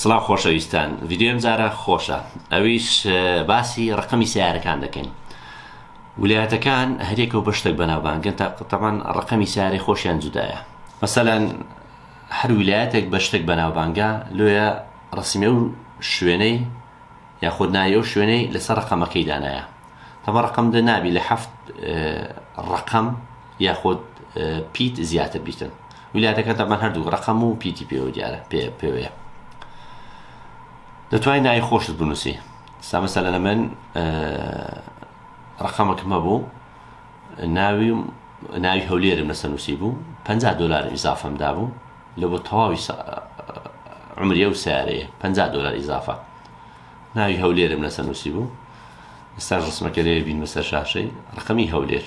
سڵاو خۆشەویستان ڤیدیۆی ئەمجارە خۆشە ئەویش باسی ڕقمی سیارەکان دەکەین ولایەتەکان هەرێکە و بەشتێک بەناوبانگن تا قتەمان ڕقمی سیارەی خۆشیان جودایە مەسەلەن هەر ولایەتێک بە شتێک بەناوبانگە لۆیە ڕسمی و شوێنەی یاخود ناوی ئەو شوێنەی لەسەر ڕقەمەکەی دانایە تەمە ڕقم دە نابی لە هەفت ڕقم یاخود پیت زیاتر بیکەن ویلایەتەکە تەبەن هەردوو ڕقم و پیتی پێوە دیارە پێ پێوەیە دەتوانین نای خۆشت بنووسی سامەسە لە من ڕقەمەکمە بوو ناوی ناوی هەولێرم لەسە نووسی بوو 50 دلار ئیزافەم دابوو لە بۆ تەواوی عمریە و سارەیە 50 دلار ئیزافە ناوی هەولێرم لەسە نووسی بوو ئستا ڕسمەکە لێ بین بەسەر شاشەی ڕقمی هەولێر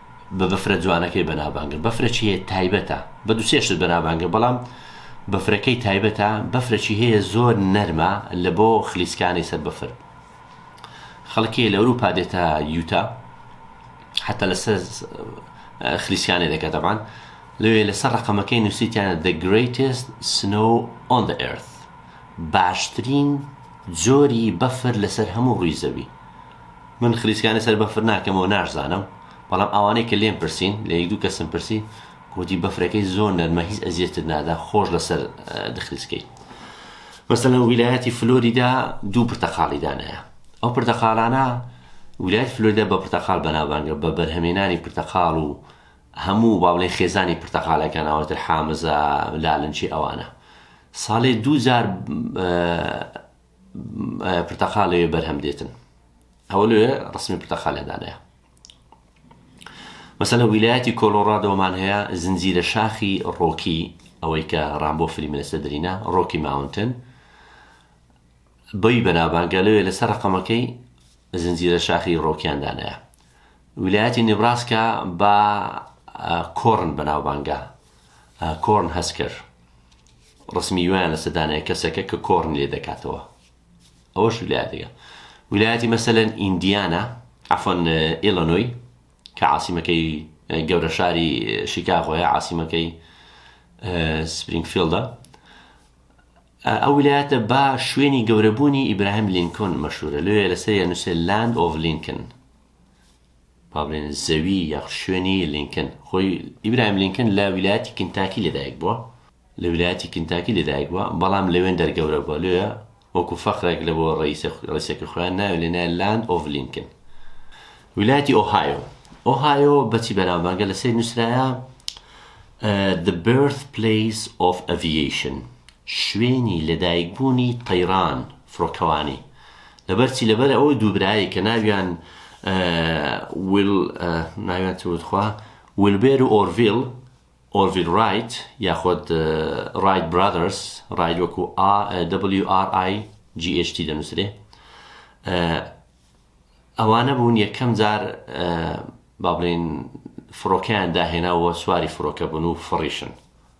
بە بەفرە جوانەکەی بەنابانگە بەفرەچی هەیە تایبەتە بە دو سێشت بەنابانگە بەڵام بەفرەکەی تایبەتە بەفرەچی هەیە زۆر نەرمە لە بۆ خلیسکانی سەر بەفر خەڵکی لە ئەوروپا دێتە یوتا حتا لەسەر خلیسیانێ دەکات دەبان لەوێ لەسەر ڕقەمەکەی نووسیتیانە the greatest snow on the earth باشترین جۆری بەفر لەسەر هەموو ڕووی زەوی من خلیسکانی سەر بەفر ناکەمەوە ناشزانم بەڵام ئەوانەی کە لێم پرسین لە یەک دوو کەسم پرسی گۆتی بەفرەکەی زۆر نەرمە هیچ ئەزیەتت نادا خۆش لەسەر دخلیسکەی مەسەلەن ویلایەتی فلۆریدا دوو پرتەقاڵی دانایە ئەو پرتەقالانە ویلایەت فلۆریدا بە پرتەقال بەناوبانگە بە بەرهەمێنانی پرتەقال و هەموو باڵێ خێزانی پرتەقالەکان ئەوتر حامزە لالنچی ئەوانە ساڵێ دوو جار پرتەقالێ لەوێ بەرهەم دێتن ئەوە لەوێ ڕسمی پرتەقالێدانەیە مەسەلە ویلایەتی کۆلۆڕادۆمان هەیە زنجیرە شاخی ڕۆکی ئەوەی کە ڕامبۆ فلیملەسە درینە ڕۆکی ماونتن بەی بەناوبانگە لەوێ لەسەر ڕقەمەکەی زنجیرە شاخی ڕۆکیاندانەیە ویلایەتی نبراسکە بە کۆرن بەناوبانگە کۆرن هەسکەر ڕسمی وایان لەسە دانای کەسەکە کە کۆرن لێ دەکاتەوە ئەوەش ولایەتەکە ولایەتی مەسەلەن ئیندیانا ئەفۆن ئیلۆنۆی کە عاسیمەکەی گەورە شاری شیکاغۆیە عاسیمەکەی سپرینگفیلدە ئەو ولایەتە با شوێنی گەورەبوونی ئیبراهیم لینکۆن مەشورە لێ لەسەر نووسێ لاند ئۆڤ لینکن با بڵێن زەوی یاخود شوێنی لینکن خۆی ئیبراهیم لینکن لە ویلایەتی کنتاکی لەدایک بووە لە ویلایەتی کنتاکی لەدایک بووە بەڵام لەوێن دەرگەورە بووە لێە وەکو فەخرێک لە بۆ ڕیسەکە خۆیان ناوێ لێ نایە لاند ئۆڤ لینکن ویلایەتی ئۆهایۆ ئۆهایۆ بەچی بەناوبانگە لە سەیر نووسراە The Birth Place of Aviation شوێنی لەدایکبوونی تەیران فڕۆکەوانی لەبەر چی لەبەر ئەوە دوو برایەک کە ناویان ویل ناویان چ وت خوا ویلبێر و ئۆرڤیل ئۆرڤیل ڕایت یاخود ڕایت برادرس ڕایت وەکو WRIGHT دەنووسرێ ئەوانە بوون یەکەم جار با بڵێن فڕۆکەیان داهێناوە سواری فڕۆکە بوون و فڕیشن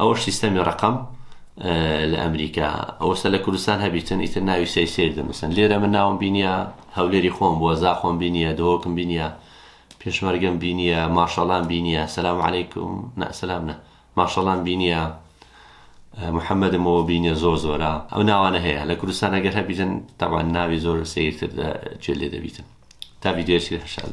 ئەوەش سیستەمی ڕەقەم لە ئەمریکا ئەوەسە لە کوردستان هەبیتن ئیتر ناوی سەی سیر دەنووسن لێرە من ناوم بینیە هەولێری خۆم بووە زاخۆم بینیە دۆکم بینیە پێشمەرگەم بینیە ماشەڵام بینیە سلام عیکم نەسلام نە ماشەڵام بینیە محەممەدمەوە بینیە زۆر زۆرە ئەو ناوانە هەیە لە کوردستان ئەگەر هەبیتن تاوان ناوی زۆر سیرتر جێ لێ دەبیتن تا ویددیوشی هەشاد